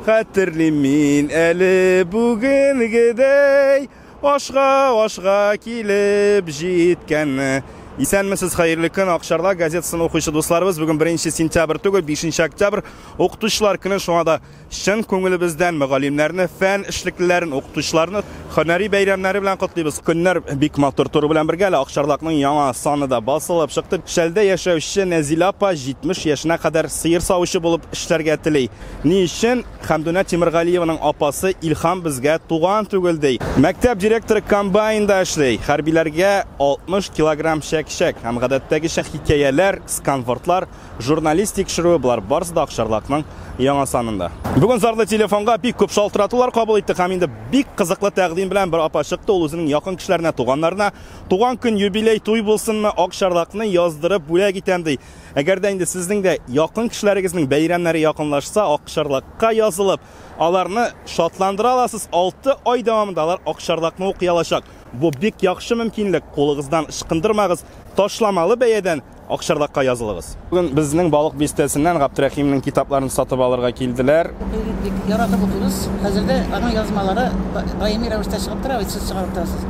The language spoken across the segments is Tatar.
Хәтерлим мин әле бүгенгедәй Ашга-ашга килеп җиткәнне. Исәнмесез, хәерле көн! Ак Чарда газетасын укучы дусларыбыз, бүген беренче сентябрь түгел, бишенче октябрь, Укытучылар көне, шуңа да чын күңелебездән мөгаллимнәрне, фән эшлеклеләрен, укытучыларны һөнәри бәйрәмнәре белән котлыйбыз. Көннәр бик матур тору белән бергә, әле Ак Чардакның яңа саны да басылып чыкты. Шәлдә яшәүче Нәзилә апа 70 яшенә кадәр сыер савучы булып эшләргә тели. Ни өчен Хәмдүнә Тимергалиеваның апасы Илһам безгә туган түгел ди? Мәктәп директоры комбайнда эшли, хәрбиләргә 60 килограмм чәк-чәк һәм гадәттәгечә хикәяләр, сканвордлар, журналист тикшерүе, болар барысы да Акчарлакның яңа санында. Бүген зарлы телефонга бик күп шалтыратулар кабул иттек һәм инде бик кызыклы тәкъдим белән бер апа чыкты, ул үзенең якын кешеләренә, туганнарына туган көн, юбилей, туй булсынмы, Акчарлакны яздырып бүләк итәм ди. Әгәр дә инде сезнең дә якын кешеләрегезнең бәйрәмнәре якынлашса, Акчарлакка язылып, аларны шатландыра аласыз. 6 ай дәвамында алар Акчарлакны укый алачак. Бу бик яхшы мөмкинлек. Кулыгыздан ычкындырмагыз, ташламалы бәядән Акчарлакка язылыгыз. Бүген безнең Балык бистәсеннән Габдрәхимнең китапларын сатып алырга килделәр. Бик яратып укыйбыз. Хәзер дә аның язмалары даими рәвештә чыгып тора, сез чыгарып торасыз.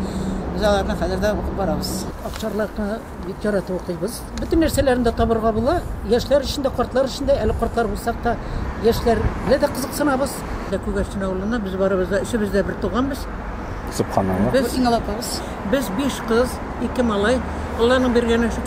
Без аларны хәзер дә укып барабыз. Акчарлакны Бик яратып укыйбыз. Бөтен нәрсәләрен дә табырга була. Яшьләр өчен дә, картлар өчен дә, әле картлар булсак та, яшьләргә дә кызыксынабыз. Күгәрчен авылыннан, без барыбыз да, өчебез дә бертуганбыз. Субханаллаһ. Без иң олы апабыз. Без биш кыз, ике малай. Алланың биргәне, шөкер.